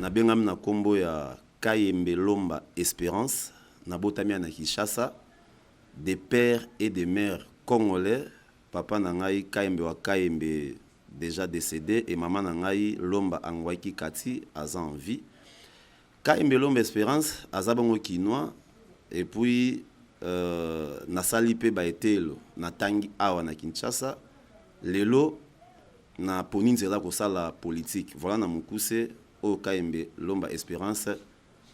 nabengami na nkombo ya kayembe lomba esperance nabotami ya na kinshasa de père et de mère congolais papa na ngai kayembe wa kayembe déjà décédé et mama na ngai lomba angwaki kati aza en vie Kayembe Lombe Esperance aza bongo kinois et puis euh, nasali mpe baeteyelo natangi awa na Kinshasa lelo naponi nzela kosala politique voilà na mokuse oyo Kayembe Lomba Esperance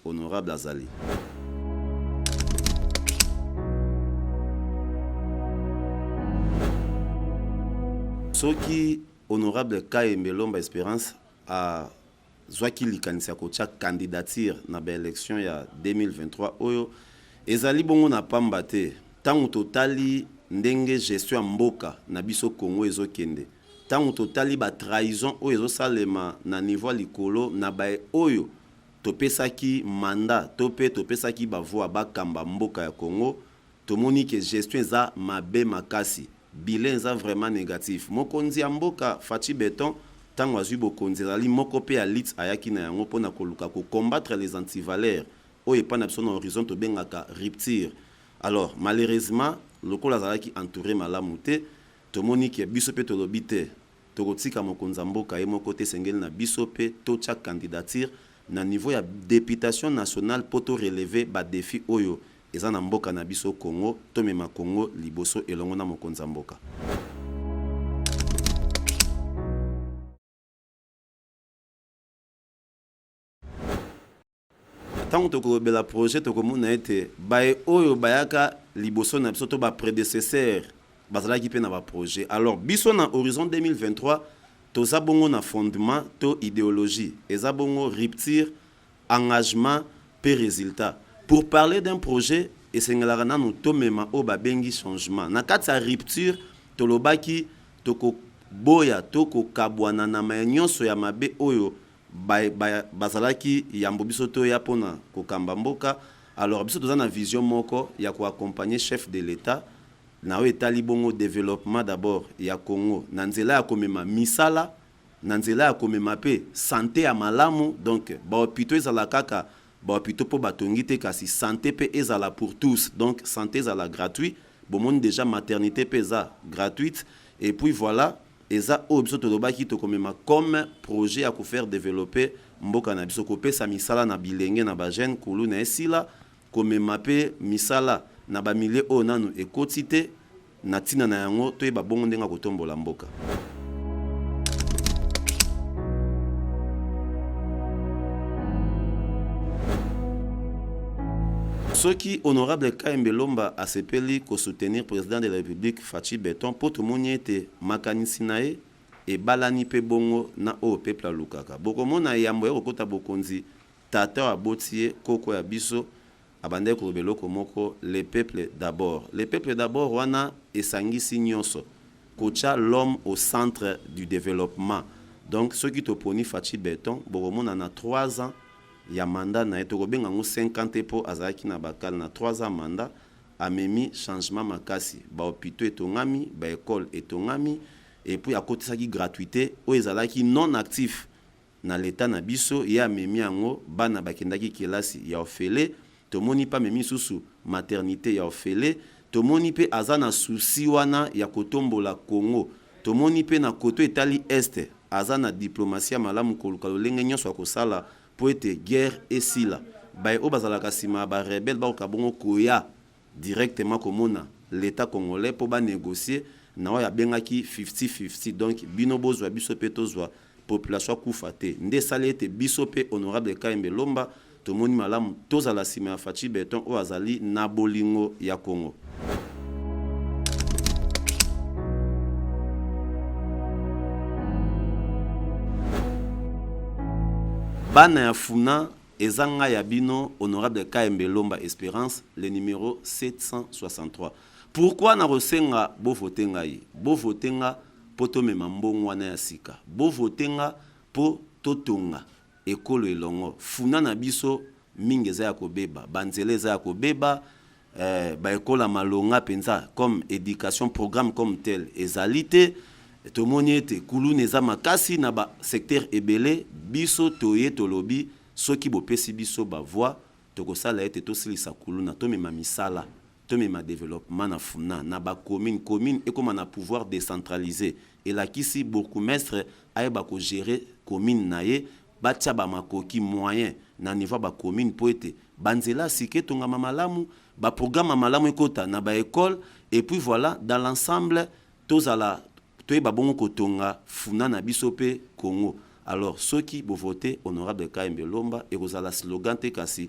honorable azali soki honorable kayembe lomba esperance a azwaki likanisi ya kotya candidature na baelection ya 2023 oyo ezali bongo na pamba te ntango totali ndenge gestion ya mboka na biso congo ezokende ntango totali batrahison oyo ezosalema na niveau ya likolo na baye oyo topesaki manda to mpe topesaki bavoi bakamba mboka ya congo tomoni ke gestion eza mabe makasi Bilan eza vraiment negatif. Mokonzi ya mboka Fatshi Beton tango azui bokonzi ezali moko pe ya lutte ayaki na yango pona koluka ko combattre les antivaleurs oyo epai na biso na horizon tobengaka rupture. Alors malheureusement lokola azalaki entoure malamu te tomoni que biso pe tolobi te tokotika mokonzi ya mboka ye moko te esengeli na biso pe totia candidature na niveau ya deputation nationale po to relever ba defis oyo Eza na mboka na biso Congo tomema Congo liboso elongo na mokonzi ya mboka. ntango tokolobela projet tokomona ete baye oyo bayaka liboso na biso to bapredecesseur bazalaki mpe na baprojet alors biso na horizon 2023 toza bongo na fondement to idéologie eza bongo rupture engagement pe resultat pour parler d'un projet esengelaka nanu tomema oyo babengi changement na kati ya rupture tolobaki toko boya to ko kabuana na maye nionso ya mabe oyo ba bazalaki yambo biso toya pona ko kamba mboka alors biso toza na vision moko ya ko accompagner chef de l'etat na oyo etali bongo developpement d'abord ya Congo na nzela ya komema misala na nzela ya komema pe sante ya malamu donc ba hopitaux ezala kaka ba hopitaux po ba tongi te kasi sante pe ezala pour tous donc sante ezala gratuit bomoni dejà maternite pe eza gratuite et puis voila eza oyo biso tolobaki tokomema comme projet ya ko faire developper mboka na biso kopesa misala na bilenge na ba jeunes kuluna esila Komema mpe misala na ba milieux oyo nanu ekoti te na ntina na yango toyeba bongo ndenge ya kotombola mboka. soki honorable kayembe lomba asepeli kosoutenir président de la république faci beton mpo tomoni ete makanisi na ye ebalani mpe bongo na oyo peuple alukaka bokomona yambo ya kokota bokonzi Tata oyo aboti ye, koko ya biso, abandaki koloba eloko moko, Le peuple d'abord. Le peuple d'abord wana esangisi nionso, kotia l'homme au centre du developpement. Donc soki toponi Fatshi Beton, bokomona na trois ans ya mandat na ye, tokobenga yango cinq ans te po azalaki na ba kala, na trois ans ya mandat, amemi changement makasi, ba hopitaux etongami, ba ecoles etongami, et puis akotisaki gratuite oyo ezalaki non actif. Na l'etat na biso ye amemi yango bana bakendaki kelasi ya ofele tomoni pe amemi lisusu maternite ya ofele tomoni pe aza na souci wana ya kotombola congo tomoni pe na cote oyo etali est aza na diplomatie ya malamu koluka lolenge nionso ya kosala po ete guerre esila baye oyo bazalaka sima ya ba rebelle bakoka bongo koya directement komona l'etat congolais po ba negocier na oyo abengaki fifty fifty donc bino bozwa biso pe tozwa population akufa te nde esali ete biso pe honorable Kayembe Lomba tomoni malamu tozala sima ya Fatshi Beton oyo azali na bolingo ya Congo. Bana ya Funa Eza ngai ya bino honorable KMB Lomba Esperance le numero 763 pourquoi na ko senga bo vote ngai bo vote nga po to mema mbong wana ya sika bo vote nga po to tonga ekolo elongo funa na biso mingi eza ya ko beba ba nzela eza ya ko beba eh, ba ekole ya malonga mpenza comme education programme comme tel ezali te tomoni ete kuluna eza makasi na ba secteur ebele biso toye tolobi soki bopesi biso ba voix tokosala ete tosilisa kuluna tomema misala tomema developement na funa na ba commune commune ekoma na pouvoir décentralisé elakisi bourgmestre ayeba kogere commune na ye Batia ba makoki, moyens, na niveau ya ba communes mpo ete ba nzela ya sika etongama malamu, ba programmes ya malamu ekota na ba ecoles et puis voilà dans l'ensemble tozala toyeba bongo kotonga funa na biso mpe Congo. Alors soki bo voter honorable Kayembe Lomba ekozala slogan te kasi